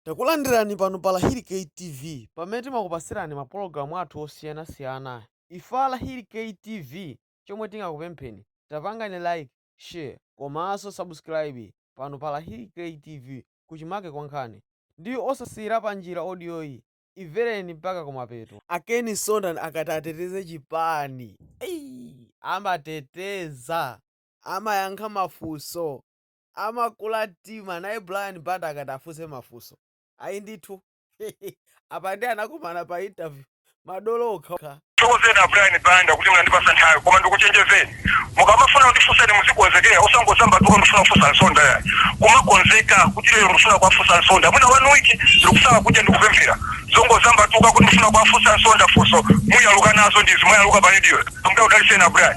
Takulandirani pano pa Lahiri K TV pamene timakupasirani ma pologalamu athu osiyana siyana. Ife a Lahiri K TV chomwe tingakupempheni tapangani like, share komanso subscribe pano pa Lahiri K TV kuchimake kwa nkhani. ndi osasiyira panjira audio yi ivereni mpaka kumapeto. A Ken Nsonda akati ateteze chipani amateteza, amayankha mafunso. Amakula mtima, naye Brian Banda akati afunse mafunso. Ayi ndithu. Apa ndiye anakumana pa interview. Madolo okhaokha. Ndithokozeni a Brian Banda kuti mwandipatsa nthawi koma ndikuchenjezeni, mukamafuna kundifunsa muzikonzekera osangozambatuka ndikufuna kufunsa Nsonda yayi. Kumakonzeka kuti lero ndikufuna kuwafunsa Nsonda. Mwina one week ndikusala kudya ndi kupemphera. Zongozambatuka kuti ndikufuna kuwafunsa Nsonda funso muyaluka nazo ndi izi mwayaluka pa radio. Ambuye akudalitseni a Brian.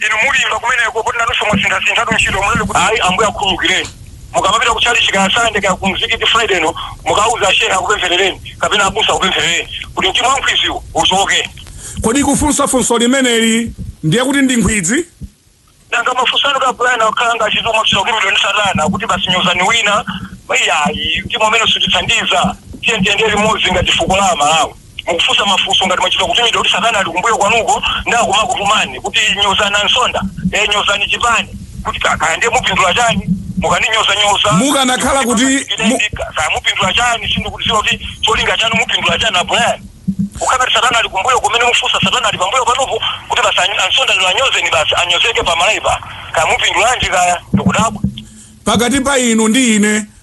Inu mulimba kumeneko poti nanunso mwasinthasinthatu ntchito mulole kuti. Ayi ambuye akukhululukireni. Mukamapita ku tchalichi kaya sande kaya ku mzikiti friday no mukauze a shehe akupempherereni kapena abusa akupempherereni kuti mtima wa nkhwidziwo uchoke. Kodi kufunsa funso limeneli ndiye kuti ndi nkhwidzi? Nanga mafunso anu a Brian akukhala ngati mwachita kutumidwa ndi satana kuti basi nyozani wina? Iyayi mtima umenewo sutithandiza. Tiyeni tiyendere limodzi ngati fuko la a Malawi. mukufunsa mafunso ngati mwachita kutumidwa kuti satana ali kumbuyo kwanuko nda kumakutumani kuti nyozani ansonda e nyozani chipani kuti ka- kaya ndiye mupindula chani mukandinyozanyoza Mukanakhala kuti- mu- kaya mupindula chani sindikudziwa kuti cholinga chanu mupindula chani a Brian ukakati satana ali kumbuyo kumene mufunsa satana ali pambuyo panopo kuti basi any- ansonda lero anyozeni basi anyozeke pa Malawi pa kaya mupindulanji kaya ndikudabwa pakati pa inu ndi ine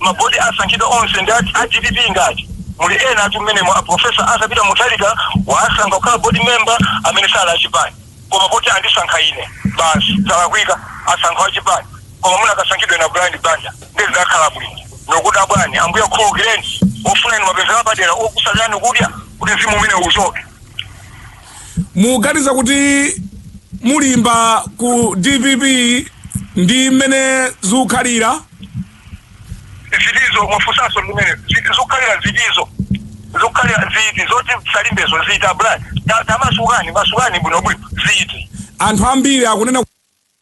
Ma board asankhidwa onse ndi a dpp ngati? Muli enatu mmenemo a Prof. Arthur Peter Mutharika waasankha kukhala board member amene sali a chipani koma poti andisankha ine basi zalakwika? Asankha wachipani koma mukanasankhidwa inu a Brian Banda ndiye zidakhala bwino? Ndikukudabwani ambuye akukhululukireni mufunika inu mapemphero apadera okusalirani kudya kuti mzimu umenewu uchoke. muganiza kuti mulimba ku dpp ndi mmene zikukhalira zitizo mwafunsanso mumene zikukhalira zitizo zikukhalira ziti zoti salimbezo ziti a Brian tamasukani masukani bwinobwino ziti anthu ambiri akunena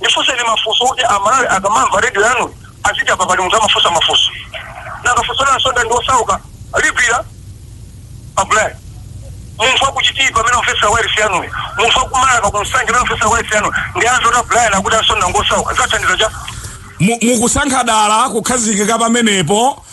Ndifunseni mafunso oti amalawi akamamva radio yanuyi aziti apa pali munthu amafunsa mafunso. Nanga funso la Nsonda ndi osauka ligwira a Brian?. Munthu wa ku Chitipa amene akumvetsera wailesi yanuyi, munthu wa ku Marka ku Nsanje amene akumvetsera wailesi yanuyi ndi amve kuti a Brian akuti a Nsonda ngosauka zathandiza cha? Mu, mukusankha dala kukhazikika pamenepo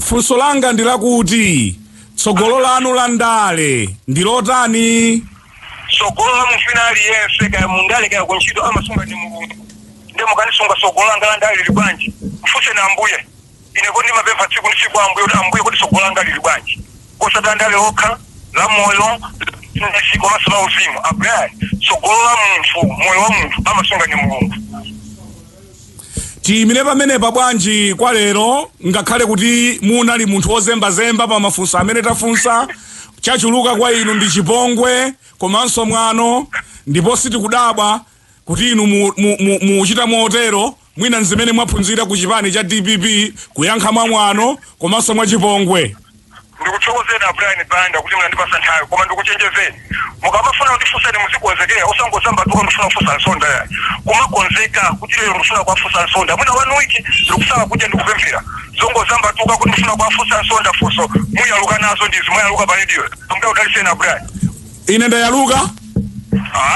Funso langa ndi lakuti tsogolo lanu la ndale ndi lotani? tsogolo la munthu wina aliyense kaya mundale kaya kuntchito amasunga ndi mulungu ndiye mukandifunsa tsogolo langa la ndale lili bwanji mfunseni ambuye ine koma ndimapempha tsiku ndi tsiku ambuye kuti ambuye kodi tsogolo langa lili bwanji osati la ndale lokha la moyo ndi komanso la uzimu a Brian tsogolo la munthu moyo wa munthu amasunga ndi mulungu Tiyimire pamenepa bwanji kwa lero ngakhale kuti munali munthu wozembazemba pa mafunso amene tafunsa chachuluka kwa inu ndi chipongwe komanso mwano ndipo sitikudabwa kuti inu mukuchita motero mwina nzimene mwaphunzira ku chipani cha dpp kuyankha mwa mwano komanso mwa chipongwe. Ndikuthokozeni a Brian Banda kuti munandipasa nthawi koma ndikuchenjezeni mukamafuna kutifunsa muzikonzekera osangodzambatuka ndikufuna kufunsa Msonda yayi kumakonzeka kuti lero ndikufuna kuwafunsa Msonda mwina one week ndikusala kudya ndikupemphera zongodzambatuka kuti ndikufuna kuwafunsa Msonda funso muyaluka nazo ndizi mwayaluka pa radio Ambuye akudalitseni a Brian ine ndayaluka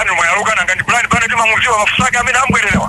inu mwayaluka nanga ndi Brian Banda timamuziwa mafunso ake amene abwerebwereza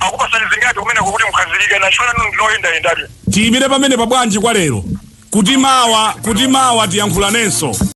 Akupasani zingati kumeneko kuti mukhazikike na ntchito yanu ndinu oyendayenda lye. Tiyimire pamenepa bwanji kwa lero kuti mawa kuti mawa tiyankhulanenso.